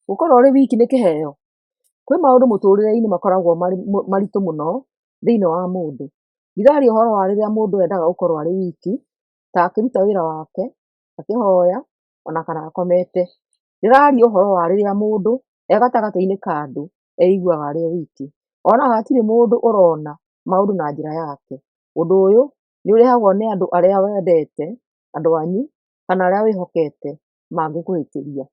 Gũkorwo ũrĩ wiki nĩ kĩheo? Kwĩ maũndũ mũtũrĩre-inĩ makoragwo marĩ maritũ mũno thĩinĩ wa mũndũ. Ndiraria ũhoro wa rĩrĩa mũndũ endaga gũkorwo arĩ wiki, ta akĩruta wĩra wake, akĩhoya, ona kana akomete. Ndĩraria ũhoro wa rĩrĩa mũndũ e gatagatĩ-inĩ ka andũ eiguaga arĩ o wiki. Onaga hatirĩ mũndũ ũrona maũndũ na njĩra yake. Ũndũ ũyũ nĩ ũrehagwo nĩ andũ arĩa wendete, andũ anyu, kana arĩa wĩhokete mangĩkũhĩtĩria.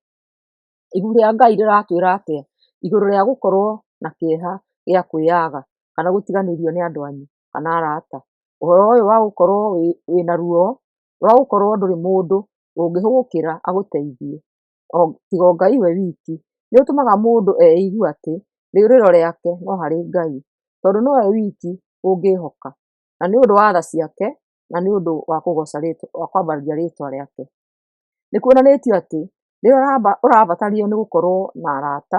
Ibuku rĩa Ngai rĩratwĩra atĩa igũrũ rĩa gũkorwo na kĩeha gĩa kwĩyaga kana gũtiganĩrio nĩ andũ anyu kana arata? Ũhoro ũyũ wa gũkorwo wĩna ruo rwa gũkorwo ndũrĩ mũndũ ũngĩgũkĩra agũteithie tiga o Ngai we wiki, nĩ ũtũmaga mũndũ eigue atĩ rĩũrĩro rĩake no harĩ Ngai, tondũ nĩwe wiki ũngĩhoka, na nĩ ũndũ wa tha ciake na nĩ ũndũ wa kwambararia rĩtwa rĩake. Nĩ kuonanĩtio atĩ rĩrĩa ũrabatario nĩ gũkorwo na arata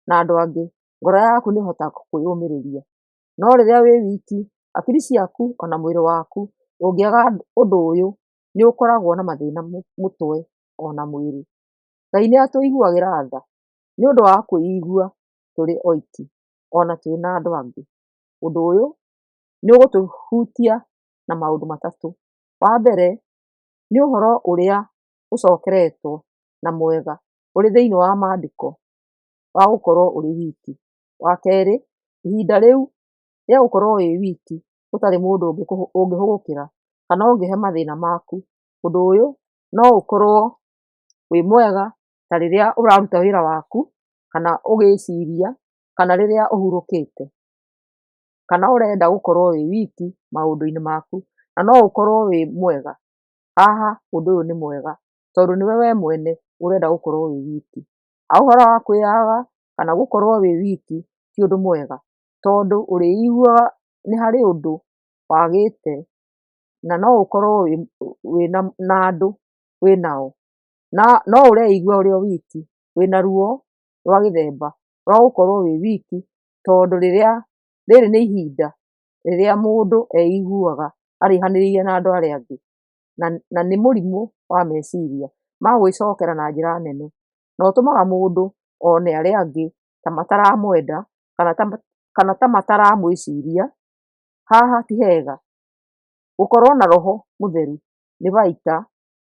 na andũ angĩ, ngoro yaku nĩ ĩhotaga kwĩyũmĩrĩria. No rĩrĩa wĩ wiki, hakiri ciaku ona mwĩrĩ waku ũngĩaga ũndũ ũyũ nĩ ũkoragwo na mathĩna mũtwe ona mwĩrĩ. Ngai nĩ atũiguagĩra tha nĩ ũndũ wa kwĩigua tũrĩ oiki ona twĩ na andũ angĩ. Ũndũ ũyũ nĩ ũgũtũhutia na maũndũ matatũ. Wa mbere, nĩ ũhoro ũrĩa ũcokeretwo na mwega ũrĩ thĩinĩ wa mandĩko wa gũkorwo ũrĩ wiki. Wa kerĩ, ihinda rĩu rĩa gũkorwo wĩ wiki ũtarĩ mũndũ ũngĩhũgũkĩra kana ũngĩhe mathĩna maku, ũndũ ũyũ no ũkorwo wĩ mwega ta rĩrĩa ũraruta wĩra waku kana ũgĩciria kana rĩrĩa ũhurũkĩte. kana ũrenda gũkorwo wĩ wiki maũndũ-inĩ maku, na no ũkorwo wĩ mwega, haha ũndũ ũyũ nĩ mwega tondũ nĩwe we mwene ũrenda gũkorwo wĩ wiki. Ũhoro wa kwĩyaga kana gũkorwo wĩ wiki ti ũndũ mwega tondũ ũrĩiguaga nĩ harĩ ũndũ wagĩte na no ũkorwo wĩna na andũ wĩnao, na no ũreigua ũrĩ o wiki, wĩna ruo rwa gĩthemba rwa gũkorwo wĩ wiki tondũ rĩrĩa, rĩrĩ nĩ ihinda rĩrĩa mũndũ eiguaga ariganĩirie na andũ arĩa angĩ, na na nĩ mũrimũ wa meciria ma gwĩcokera na njĩra nene, na ũtũmaga mũndũ one arĩa angĩ ta mataramwenda, kana ta kana ta mataramwĩciria, haha ti hega, gũkorwo na roho mũtheru nĩ baita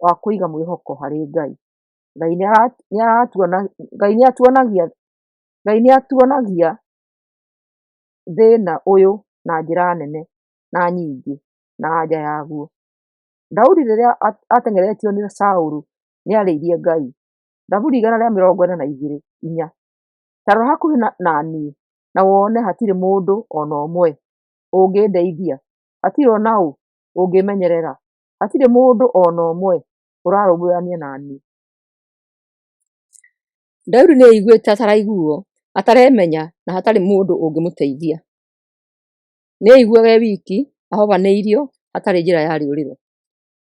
wa kũiga mwĩhoko harĩ Ngai, Ngai nĩara nĩaratua Ngai nĩatuonagia Ngai nĩ atuonagia thĩna ũyũ na njĩra nene na nyingĩ na anja yaguo. Daudi rĩrĩa ateng'eretio nĩ Saũlũ nĩ arĩirie Ngai, Thaburi igana rĩa mĩrongo ĩna na igĩrĩ inya, "Ta rora hakuhĩ na niĩ na wone hatirĩ mũndũ o na ũmwe ũngĩndeithia, hatirĩ o na ũ ũngĩĩmenyerera, hatirĩ mũndũ o na ũmwe ũrarũmbũyania na niĩ." Daudi nĩ aaiguĩte ataraiguo, ataremenya, na hatarĩ mũndũ ũngĩmũteithia. Nĩ aaiguaga e wiki, ahobanĩirio, hatarĩ njĩra ya rĩũrĩro.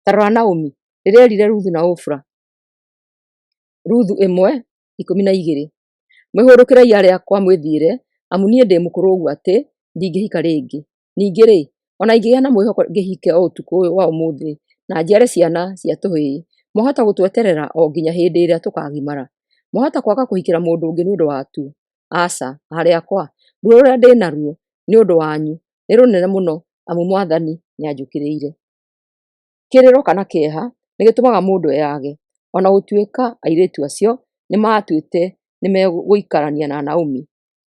Ta rora Naomi, rĩrĩa erire Ruthu na Ofra, Ruthu ĩmwe ikũmi na igĩrĩ, mwĩhũrũkĩrei arĩa akwa mwĩthiĩre, amu niĩ ndĩ mũkũrũ ũguo atĩ ndingĩhika rĩngĩ. Ningĩ-rĩ, o na ingĩgĩa na mwĩhoko ngĩhike o ũtukũ ũyũ wa ũmũthĩ na njiare ciana cia tũhĩĩ, mwahota gũtweterera o nginya hĩndĩ ĩrĩa tũkagimara? Mwahota kwaga kũhikĩra mũndũ ũngĩ nĩ ũndũ watu? Aca, aarĩ akwa, ruo rũrĩa ndĩ naruo nĩ ũndũ wanyu nĩ rũnene mũno amu Mwathani nĩ anjũkĩrĩire. Kĩrĩro kana kĩeha nĩ gĩtũmaga mũndũ eyage. O na gũtuĩka airĩtu acio nĩ maatuĩte nĩ megũikarania na Naomi,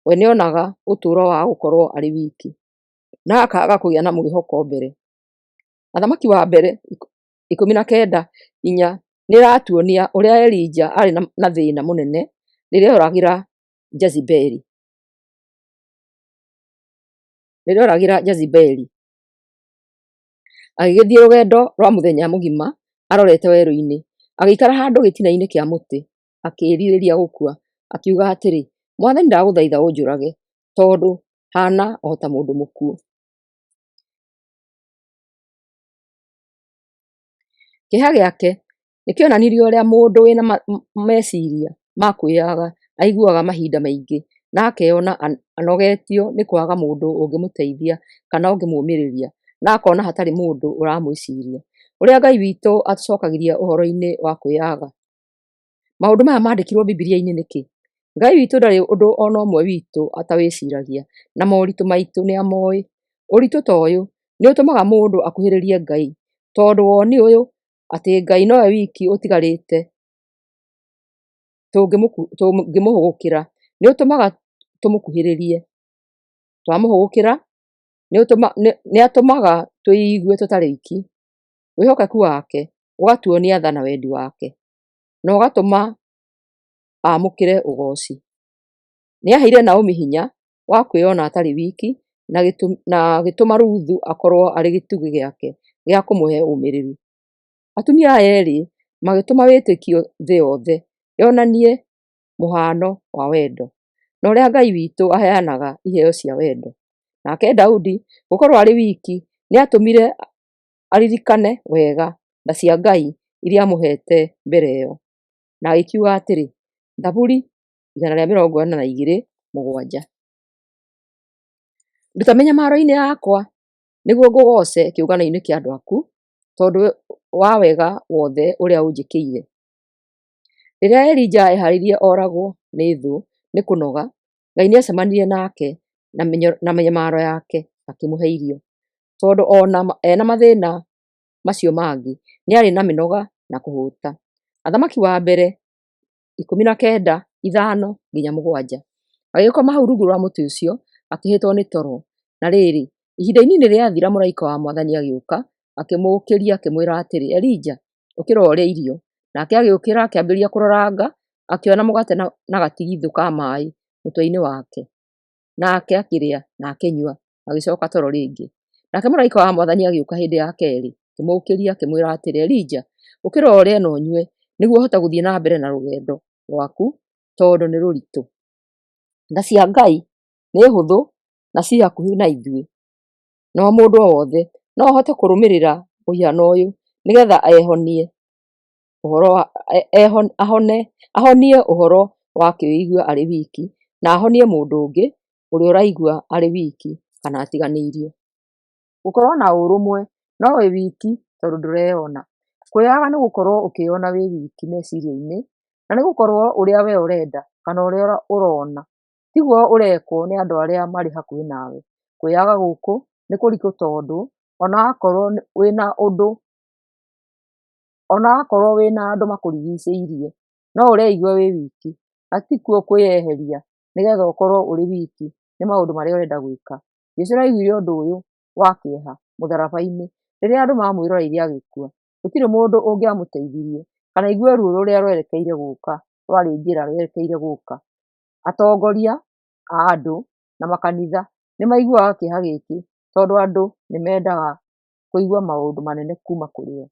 we nĩonaga ũtũro wa gũkorwo arĩ wiki, na akaga kũgĩa na mwĩhoko mbere. Mũthamaki wa mbere ikũmi na kenda inya nĩratuonia ũrĩa Elija arĩ na thĩna mũnene rĩrĩa oragĩra Jezebeli, rĩrĩa oragĩra Jezebeli agĩgĩthiĩ rũgendo rwa mũthenya mũgima arorete werũ-inĩ, agĩikara handũ gĩtina-inĩ kĩa mũtĩ akĩĩrirĩria gũkua, akiuga atĩrĩ, Mwathani ndagũthaitha ũnjũrage, tondũ haana o ta mũndũ mũkuũ. Kĩeha gĩake nĩkĩonanirie ũrĩa mũndũ wĩna meciria ma kwĩyaga aiguaga mahinda maingĩ na akeyona anogetio nĩ kwaga mũndũ ũngĩmũteithia kana ũngĩmũmĩrĩria na akona hatarĩ mũndũ ũramwĩciria. Ũrĩa Ngai witũ atũcokagĩria ũhoro-inĩ wa kwĩyaga. Maũndũ maya mandĩkirwo Bibilia-inĩ nĩkĩ? Ngai witũ ndarĩ ũndũ ona ũmwe witũ atawĩciragia, na moritũ maitũ nĩamoĩ. Ũritũ ta ũyũ, nĩũtũmaga mũndũ akuhĩrĩrie Ngai, tondũ woni ũyũ, atĩ Ngai nowe wiki ũtigarĩte tũngĩmũhũgũkĩra, nĩũtũmaga tũmũkuhĩrĩrie. Twamũhũgũkĩra, nĩatũmaga tũigue tũtarĩ aiki. wĩhokeku wake ũgatuo nĩ atha na wendi wake, na ũgatũma amũkĩre ũgooci. Nĩ aheire Naomi hinya wa kwĩyona atarĩ wiki, na agĩtũma Ruthu akorwo arĩ gĩtugĩ gĩake gĩa kũmũhe ũmĩrĩru. Atumia aya erĩ magĩtũma wĩtĩkio thĩ yothe yonanie mũhano wa wendo, na ũrĩa Ngai witũ aheanaga iheo cia wendo. Nake Daudi gũkorwo arĩ wiki nĩ atũmire aririkane wega tha cia Ngai iria aamũheete mbere ĩyo. Na agĩkiuga atĩrĩ, Thaburi igana rĩa mĩrongo ĩna na igĩrĩ mũgwanja. Nduta mĩnyamaro-inĩ yakwa, nĩguo ngũgooce kĩũngano-inĩ kĩa andũ aku, tondũ wa wega wothe ũrĩa ũnjĩkĩire. Rĩrĩa Elija eeharĩirie oragwo nĩ thũ nĩ kũnoga, Ngai nĩ acemanirie nake na mĩnyo- na mĩnyamaro yake akĩmũhe irio. Tondũ ona ma- ena mathĩna macio mangĩ, nĩ arĩ na mĩnoga na kũhũta. Athamaki wa mbere ikũmi na kenda, ithano nginya mũgwanja. Agĩkoma hau rungu rwa mũtĩ ũcio, akĩhĩtwo nĩ toro. Na rĩrĩ, ihinda inini rĩathira mũraika wa Mwathani agĩũka, akĩmũũkĩria akĩmwĩra atĩrĩ, Elija, ũkĩra ũrĩe irio. Nake agĩũkĩra akĩambĩrĩria kũroranga, akĩona mũgate na, na gatigithũ ka maĩ mũtwe-inĩ wake. Nake akĩrĩa, na akĩnyua, agĩcoka toro rĩngĩ. Nake mũraika wa Mwathani agĩũka hĩndĩ ya kerĩ, akĩmũũkĩria akĩmwĩra atĩrĩ, Elija, ũkĩra ũrĩe na ũnyue, nĩguo ũhote gũthiĩ na mbere na rũgendo rwaku, tondũ nĩ rũritũ. Tha cia Ngai nĩ hũthũ na ci hakuhĩ na ithuĩ. na wa mũndũ o wothe, no ahote kũrũmĩrĩra mũhiano ũyũ nĩgetha ehonie ũhoro wa, ahone, ahonie ũhoro wa kwĩigua arĩ wiki, na ahonie mũndũ ũngĩ ũrĩa ũraigua arĩ wiki kana atiganĩirio. Gũkorwo na ũrũmwe no wĩ wiki tondũ ndũreyona. Kwĩyaga nĩ gũkorwo ũkĩyona wĩ wiki meciria-inĩ, na nĩ gũkorwo ũrĩa we ũrenda kana ũrĩa ũrona Tiguo ũrekwo nĩ andũ arĩa marĩ hakuhĩ nawe. Kwĩyaga gũkũ nĩ kũritũ tondũ ona wakorwo wĩna ũndũ, ona wakorwo wĩna andũ makũrigicĩirie, no ũreigua wĩ wiki, na ti kuo kwĩyeheria nĩgetha ũkorwo ũrĩ wiki nĩ maũndũ marĩa ũrenda gwĩka. Jesũ nĩ aiguire ũndũ ũyũ wa kĩeha mũtharaba-inĩ rĩrĩa andũ mamwĩroreire agĩkua. Gũtirĩ mũndũ ũngĩamũteithirie kana aigue ruo rũrĩa rwerekeire gũka, rwarĩ njĩra rwerekeire gũka. atongoria a andũ na makanitha nĩ maiguaga kĩeha gĩkĩ tondũ andũ nĩ mendaga kũigua maũndũ manene kuma kũrĩ o.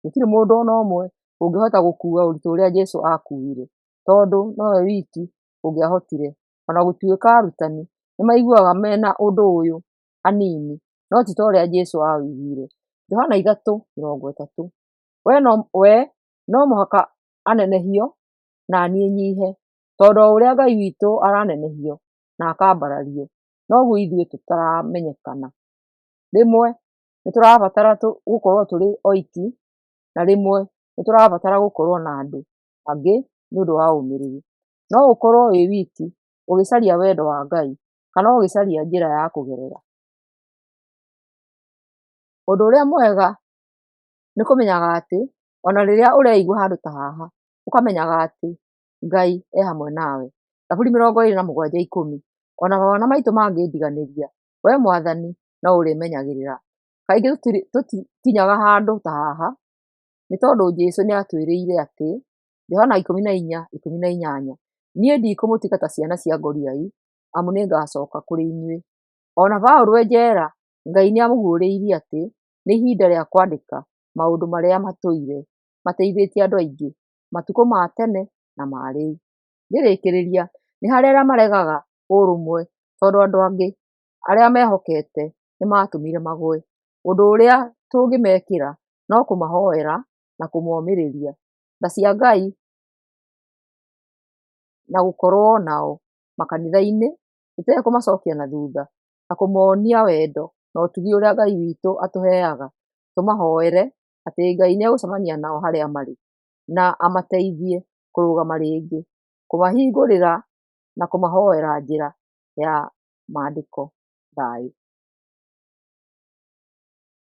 Gũtirĩ mũndũ ona ũmwe ũngĩhota gũkua ũritũ ũrĩa Jesũ akuire tondũ nowe wiki ũngĩahotire. Ona gũtuĩka arutani nĩ maiguaga mena ũndũ ũyũ hanini no ti ta ũrĩa Jesũ aũiguire. Johana ithatũ mĩrongo ĩtatũ, we no mũhaka anenehio naniĩ nyihe. Tondũ o ũrĩa Ngai witũ aranenehio na akambarario, noguo ithuĩ tũtaramenyekana. Rĩmwe nĩ tũrabatara gũkorwo tũrĩ oiki, na rĩmwe nĩ tũrabatara gũkorwo na andũ angĩ nĩ ũndũ wa ũmĩrĩru. No ũkorwo wĩ wiki ũgĩcaria wendo wa Ngai, kana ũgĩcaria njĩra ya kũgerera. Ũndũ ũrĩa mwega nĩ kũmenyaga atĩ, ona rĩrĩa ũreigua handũ ta haha, ũkamenyaga atĩ Ngai e hamwe nawe. Thaburi mĩrongo ĩĩrĩ na mũgwanja ikũmi O na mawĩra maitũ mangĩndiganĩria, wee Mwathani no ũrĩmenyagĩrĩra. Kaingĩ tũtikinyaga handũ ta haha nĩ tondũ Jesu nĩ atwĩrĩire atĩ, Johana ikũmi na inya ikũmi na inyanya, Niĩ ndikũmũtiga ta ciana cia ngoriai, amu nĩ ngacoka kũrĩ inyuĩ. O na Paulo e njera, Ngai nĩ aamũguũrĩirie atĩ nĩ ihinda rĩa kwandĩka maũndũ marĩa matũire mateithĩtie andũ aingĩ. matukũ ma tene na ma rĩu. Ngĩrĩkĩrĩria, nĩ harĩ arĩa maregaga ũrũmwe tondũ andũ angĩ arĩa mehokete nĩ matũmire magũe. Ũndũ ũrĩa tũngĩmekĩra no kũmahoera na kũmomĩrĩria. Tha cia Ngai na gũkorwo nao makanitha-inĩ tũtekũmacokia na thutha na kũmonia wendo na ũtugi ũrĩa Ngai witũ atũheaga, tũmahoere atĩ Ngai nĩ egũcemania nao harĩa marĩ na amateithie kũrũgama rĩngĩ, kũmahingũrĩra na kũmahoera njĩra ya mandĩko thayũ.